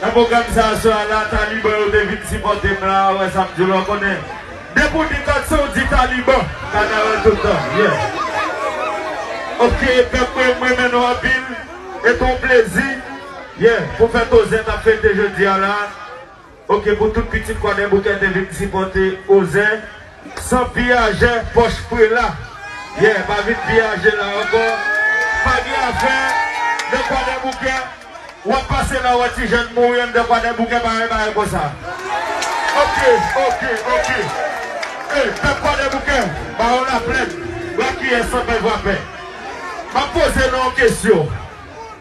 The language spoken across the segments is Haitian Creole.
Nan pwogram sa swa la taliban yo te vin sipòte m la wè sa m di w la w konnen depi w di kòd se w di taliban kanaval tout tan yeah ok pèp mwen m renmen nou anpil e t on plezi yeah pou fè tozè t ap fete jodi a la ok pou tout pitit kwadèboukè te vin sipòte ozè. San piyajè pòch prela. Yeah pa vin piyaje la ankò pa gen afè nan kwadèboukè wap pase la wè ti jèn mouri anndan kwadèboukè pa gen bagay konsa ok ok ok ey pèp kwadèboukè baron laplèn rakiyè sanpè vrapè map poze nou yon kesyon.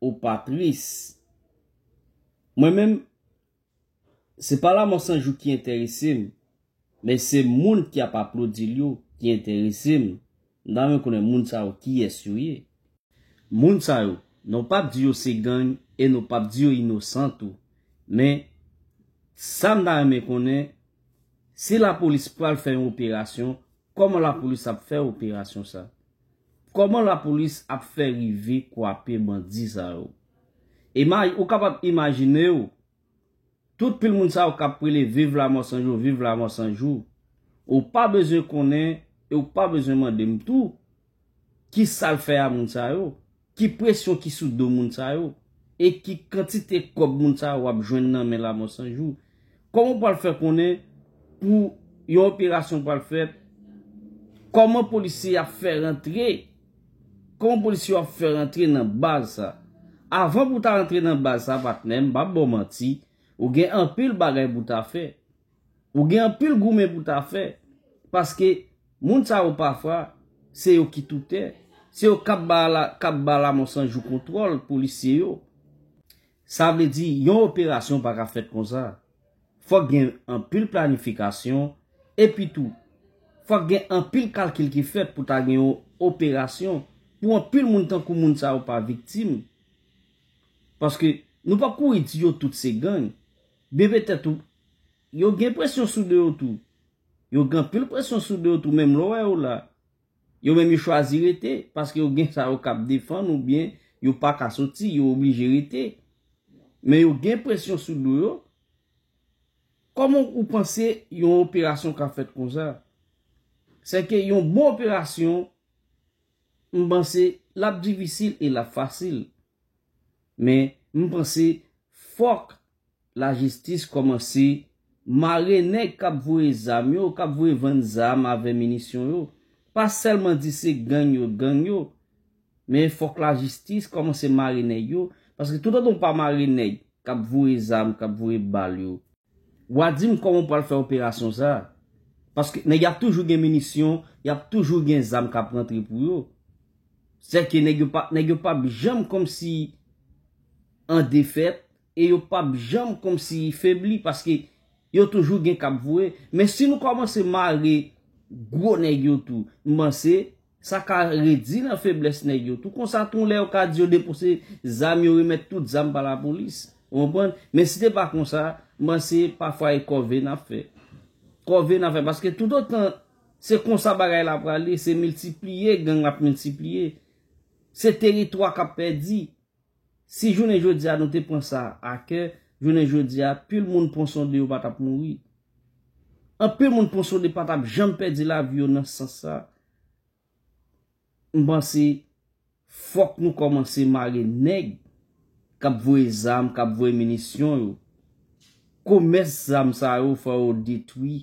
Ou pa tris? Mwen menm, se pa Lamò 100 jou ki enterese m, men se moun ki ap aplodi l yo ki enterese m. M ta renmen konnen moun sa yo kiyès yo ye? Moun sa yo, nou p ap di yo se gang e nou p ap di yo inosan tou. Men, sa m ta renmen konnen, si lapolis pral fè yon operasyon, kòman lapolis ap fè operasyon sa? Koman la polis ap fè rive kwape bandi sa yo? Ima ou kapab imajine w tout pil moun sa yo kap prele viv lamò san jou viv lamò san jou ou pa bezwen konnen e ou pa bezwen mande m tou ki sal fè a moun sa yo? Ki presyon ki sou do moun sa yo? E ki kantite kòb moun sa yo ap jwenn nan men Lamò 100 jou? Kòman ou pral fè konnen pou yon operasyon pral fèt? Kòman polisye y ap fè rantre? Kòman polisye yo ap fè rantre nan baz sa? Avan pou w ta rantre nan baz sa patnè m pa p ba w manti, ou gen anpil bagay pou w ta fè. Ou gen anpil goumen pou ta fè, paske moun sa yo pafwa, se yo ki toutè, se yo kap ba lamò san jou kontwòl polisye yo. Sa vle di, yon operasyon pa ka fèt konsa. Fòk gen anpil planifikasyon, epi tou, fòk gen anpil kalkil ki fèt pou ta gen yon operasyon, pou anpil moun tankou moun sa yo pa viktim. Paske, nou pap kouri di yo tout se gang. Bebe tèt ou Yo gen presyon sou do yo tou Yo gen anpil presyon sou do yo tou menm lè w wè yo la Yo menm yo chwazi rete paske yo gen sa yo k ap defann oubyen yo pa ka soti yo oblije rete Men yo gen presyon sou do yo Kòman ou panse yon operasyon ka fèt konsa Sèke yon bon operasyon M panse l ap difisil e l ap fasil. Men m panse fòk lajistis kòmanse mare nèg k ap voye zam yo, k ap voye vann zam avè minisyon yo. Pa sèlman di se gang yo, gang yo. Men fòk lajistis kòmanse mare nèg yo. Paske toutotan w pa mare nèg k ap voye zam, k ap voye bal yo. Wa dim koman ou pwal fè operasyon sa. Paske nèg yap toujou gen minisyon, yap toujou gen zam kap rantre pou yo. Sè ke nèg yo pa, nèg yo pap janm komsi an defèt e yo pap janm komsi febli paske yo toujou gen kap voye. Men si nou komanse mare gwo nèg yo tou, m panse Sa ka redi nan feblès nèg yo tou. Konsa tou lè yo ka di yo depose zam yo remèt tout zam ba lapolis. Ou konprann? Men si te pa konsa, m panse pafwa e kòve n ap fè. Kòve n ap fè paske toutotan se konsa bagay la prale, se miltipliye gang ap miltipliye. Se teritwa k ap pèdi. Si jounen jodi a nou te pran sa a kè, jounen jodi a, pil moun Ponsonde yo pa tap mouri. Anpil moun Ponsonde pa tap janm pèdi lavi yo nan sans sa. M panse fòk nou kòmanse mare nèg kap voye zam, kap voye minisyon yo. Komès zam sa yo fò yo detwi.